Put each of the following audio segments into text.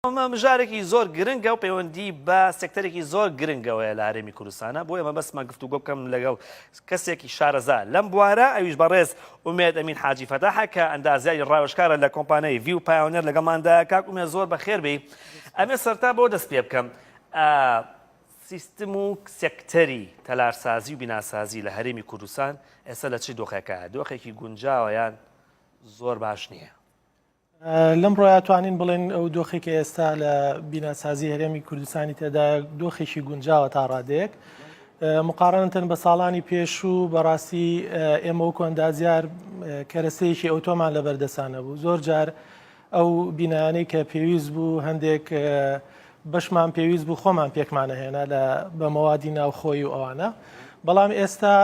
ئەمە مژارێکی زۆر گرنگە و پەیوەندی بە سێکتەرێکی زۆر گرنگەوەیە لە هەرێمی کوردستانە بۆیە مەبەستمە گفتوگۆ بکەم لەگەڵ کەسێکی شارەزا لەم بوارە ئەویش بەڕێز ئومێد ئەمین حاجی فەتاحە کە ئەندازیاری ڕاوێژکارە لە کۆمپانیای ڤیو پایۆنێر لەگەڵماندا کاک ئومێ زۆر بەخێربی ئەمێ سەرتا بۆ دەست پێ بکەم سیستم و سێکتەری تەلارسازی و بیناسازی لە هەرێمی کوردستان ئێستا لە چی دۆخێکە دۆخێکی گونجاوە یان زۆر باش نییە لەم ڕۆیا توانین بڵێن ئەو دۆخی کە ئێستا لە بیناسازی هەرێمی کوردستانی تێدا دۆخێکی گونجاوە تا ڕادێک مقارنتن بە ساڵانی پێشوو بەڕاستی ئێمە و کۆندازیار کەرەسەیەکی ئەوتۆمان لە بەردەسانە بوو زۆر جار ئەو بینانەی کە پێویست بوو هەندێک بەشمان پێویست بوو خۆمان پێکمانە هێنا لە بە مەوادی ناوخۆی و ئەوانە بەڵام ئێستا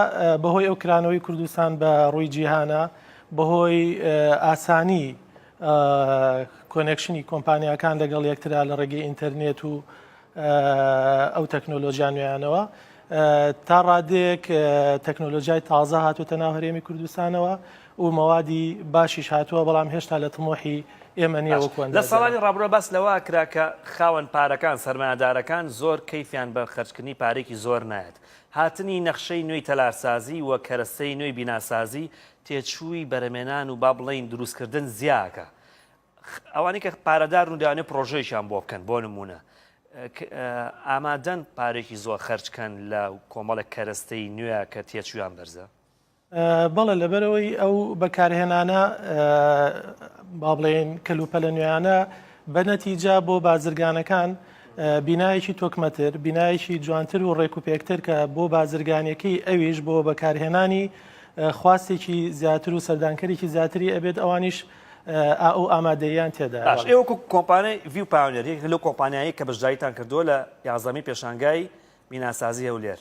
بەهۆی ئەو کرانەوەی کوردستان بە ڕووی جیهانە بەهۆی ئاسانی کۆنێکشنی کۆمپانیاکان لەگەڵ یەکترا لە ڕێگەی ئینتەرنێت و ئەو تەکنۆلۆژیا نوێیانەوە تا ڕادێک تەکنۆلۆژیای تازە هاتوتە ناو هەرێمی کوردستانەوە و مەوادی باشیش هاتووە بەڵام هێشتا لە تمۆحی ئێمە نیەوەکووە لە ساڵانی ڕابرۆ باس لەوە کرا کە خاوەن پارەکان سەرمایەدارەکان زۆر کەیفیان بە خەرجکردنی پارێکی زۆر نایەت هاتنی نەخشەی نوێی تەلارسازی و کەرەستەی نوێی بیناسازی تێچووی بەرەمێنان و با بڵێین دروستکردن زیاکە ئەوانەی کە پارەدارن و دەیانێت پڕۆژەیەکیان بۆ بکەن بۆ نموونە ئامادەن پارێکی زۆر خەرجکەن لە کۆمەڵێک کەرەستەی نوێ کە تێچوویان بەرزە بەڵێ لەبەرەوەی ئەو بەکارهێنانە با بڵێن کەلوپەلە نوێیانە بە نەتیجە بۆ بازرگانەکان بینایەکی تۆکمەتر، بینایەکی جوانتر و ڕێکوپێکتر کە بۆ بازرگانیەکەی ئەویش بۆ بەکارهێنانی خواستێکی زیاتر و سەردانکەرێکی زیاتری ئەبێت ئەوانیش ئەو ئامادەیان تێدا ئێوەکو کۆمپانای ڤیو پاونێر یەکێک لەو کۆمپانیایی کە بەشداریتان کردووە لە یازدەمین پێشانگای بیناسازی هەولێر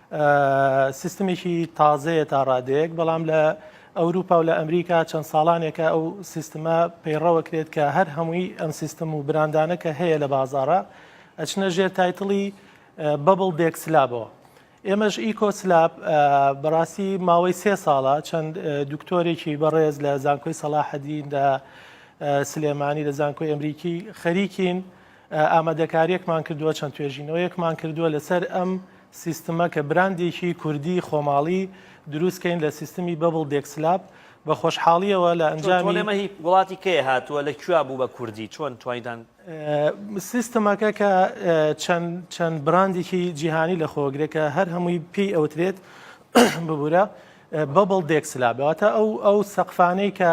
سیستمێکی تازەیە تا ڕادەیەک، بەڵام لە ئەوروپا و لە ئەمریکا چەند ساڵانێکە ئەو سیستمە پەیڕەوە کرێت کە هەر هەمووی ئەم سیستم و براندانە کە هەیە لە بازارە ئەچنە ژێر تایتڵی بەبڵ دێک سلابەوە. ئێمەش ئیکۆ سلاب بەڕاستی ماوەی سێ ساڵە چەند دکتۆرێکی بەڕێز لە زانکۆی سەڵاحەدین لە سلێمانی لە زانکۆی ئەمریکی خەریکین ئامادەکارییەکمان کردووە، چەند توێژینەوەیەکمان کردووە لەسەر ئەم سیستمە کە براندێکی کوردی خۆماڵی دروستکەین لە سیستمی بەبڵ دێکسلاب، بە خۆشحاڵییەوە لە ئەنجامی. چۆن ئەمە هی وڵاتی کێیە هاتووە؟ لە کوێ بوو بە کوردی؟ چۆن توانیتان. سیستمەکە کە چەند چەند براندێکی جیهانی لەخۆگرێ کە هەر هەمووی پێی ئەوترێت ببورە، Bubble Deck Slab، واتە ئەو سەقفانەی کە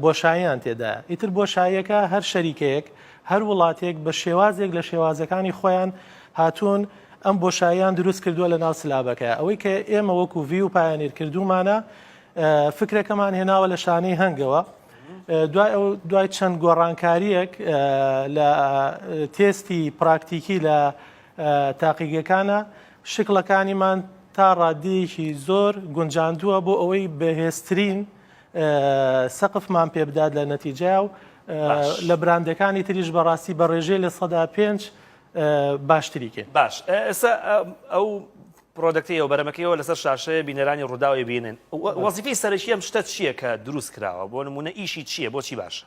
بۆشاییان تێدایە، ئیتر بۆشاییەکە هەر شەریکەیەک، هەر وڵاتێک بە شێوازێک لە شێوازەکانی خۆیان هاتوون ئەم بۆشاییان دروست کردووە لە ناو سلابەکەیا. ئەوەی کە ئێمە وەکوو ڤیو پایۆنیر کردوومانە، فکرەکەمان هێناوە لە شانەی هەنگەوە. دوای چەند گۆڕانکارییەک لە تێستی پراکتیکی لە تاقیگەکانا، شکڵەکانیمان تا ڕاددەیەکی زۆر گونجاندووە بۆ ئەوەی بەهێزترین سەقفمان پێ بدات لە نەتیجە و لە براندەکانی تریش بەڕاستی بە ڕێژەی لە سەدا پێنج باشتری کرد باش ئێستا ئەو پرۆدەکتی ئەو بەرەمەکەیەوە لەسەر شاشەیە بینەرانی ڕووداوی بینن وەزیفی سەرەکی ئەم شتە چییە کە دروست کراوە بۆ نمونە ئیشی چییە بۆچی باشە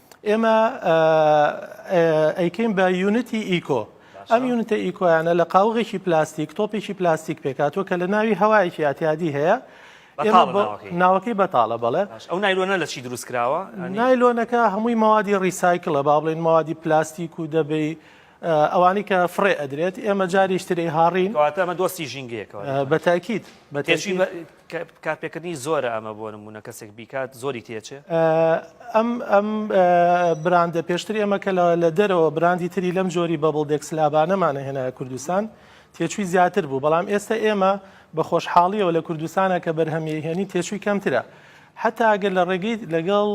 ئێمە ئەیکەین بە یونتی ئیکۆ ئەم یونتە ئیکۆیانە لە قاوغێکی پلاستیک تۆپێکی پلاستیک پێکاتوە کە لە ناوی هەوایەکی ئاتیادی هەیە ناوەکەی بەتاڵە بەڵێ ئەو نایلۆنە لە چی دروست کراوە نایلۆنەکە هەمووی مەوادی ڕیسایکلە با بڵێن مەوادی پلاستیک و دەبی ئەوانی کە فڕێ ئەدرێت ئێمە جاریشتری هاڕین ئەمە دۆستی ژینگەیەکەوە بەتاکیت بەتێشی کارپێکردنی زۆرە ئەمە بۆ نمونە کەسێک بیکات زۆری تێچێ؟ ئەم ئەم براندە پێشتری ئەمە کە لە دەرەوە براندی تری لەم جۆری بەبڵ دێکس لابانەمانە هێنایە کوردستان تێچووی زیاتر بوو بەڵام ئێستا ئێمە بە خۆشحاڵیەوە لە کوردستانە کە بەرهەمی هێنی تێچووی کەمترە حتا ئەگەر لە ڕێگەی لەگەڵ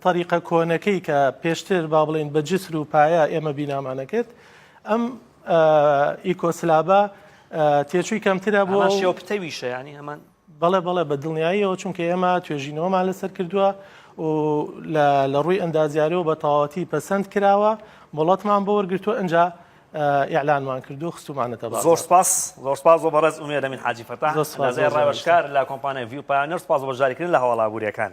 تەریقە کۆنەکەی کە پێشتر با بڵین بە جسر و پایە ئێمە بینامانەکرد ئەم یوکۆسلاڤا تێچووی کەمترە بۆ ئەمان شێوە پتەویشە یانی هەمان بەڵێ بەڵێ بە دڵنیاییەوە چونکە ئێمە توێژینەوەمان لەسەر کردووە و لە ڕووی ئەندازیارەوە بە تەواوەتی پەسەند کراوە مڵەتمان بۆ وەرگرتووە ئەجا ئیعلانمان کردو خستومانەتە بە زۆر سپاس زۆر سپاس بۆ بەڕێز ئومێدە من حاجی فەتا ڕاوشکار لە کۆمپانای ڤیو پایانەر سپاس بۆ جاریکردن لە هەواڵابووریەکان